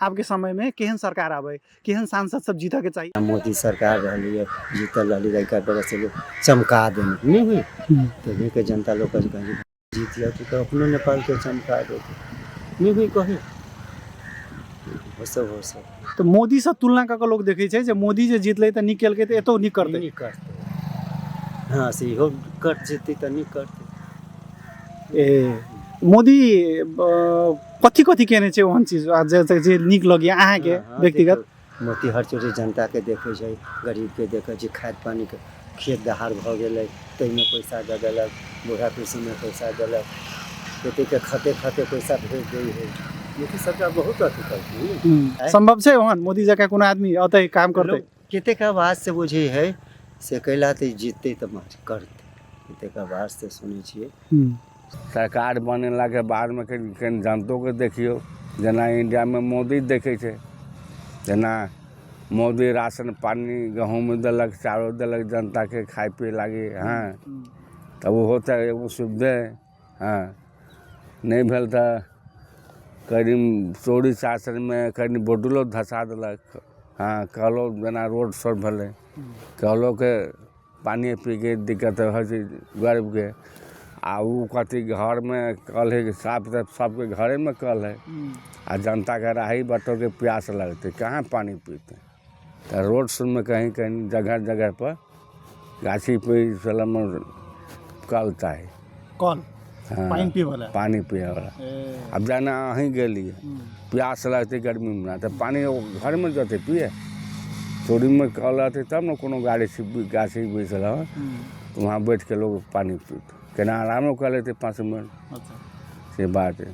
आबके समयमे केहन सरकार आबै केहन सांसद सब जीतऽके चाही मोदी सरकार रहलियै जीतल रहली लड़का बगल से लोग चमका देने नहीं हुई तो वहीं के जनता लोग कहे कहे जीत गया तो, तो अपने नेपाल के चमका दे नहीं हुई कहे हो सब हो सब तऽ मोदीसँ तुलना कऽ कऽ लोक देखै छै जे मोदी जे जीतलै तऽ नीक केलकै तऽ एतौ नीक करतै नहीं करते हाँ से इहो कट जेतै तऽ नहीं करते ए मोदी अ, कथी कथी केने छै ओहन चीज आ जे जे- जे नीक लगैए अहाँके हाँ, हाँ, व्यक्तिगत देखो, मोती हर चोटे जनता के देखे छै गरीब के देखे छै खाद पानी के खेत दहाड़ भऽ गेलै ताहिमे पैसा दऽ देलक बूढ़ा पेंशनमे पैसा देलक खेती के खते खते पैसा भेज दै है मोदी सरकार बहुत अथी करथिन ने। हम्म, आँय? सम्भव छै ओहन मोदी जकाँ कोनो आदमी औतै काम करतै लोग कतेक आवाज से बुझै है से कैला तऽ जीततै तऽ माछ करतै कतेक आवाज से सुनै छियै सरकार बनेलाके बादमे कनि कनि जनतोके देखियौ जेना इंडियामे मोदी देखै छै जेना मोदी राशन पानि गहूँम देलक चाउर देलक जनताके खाइ पीयै लागी हँ तऽ ओहो तऽ एगो सुविधे हँ नहि भेल तऽ कनी चोरी चाचरमे कनी बोतलो धसा देलक हँ कलो जेना रोड सब भेलै कलोके पानिये पीके दिक्कत होइ छै गरीबके आओर उ कथी घरमे कल हय साफ तऽ सबके घरेमे कल हय आओर जनताके राही बाँटऽके प्यास लगतै कहाँ पानि पीतै तऽ रोड सबमे कहीँ कहीँ जगह जगहपर गाछी वृक्ष सबमे कल ता हइ कल हँ पानि पीबऽला पानि पियैवला आब जेना अहीँ गेलियै प्यास लगतै गर्मीमे तऽ पानि ओ घरमे जेतय पीयै चोरीमे कल रहतय तब ने कोनो गाड़ी गाछी वृक्ष रहल तऽ वहाँ बैठके लोग पानि पीतय केना आरामो कऽ लेतय पाँच मिनट अच्छा से बात हइ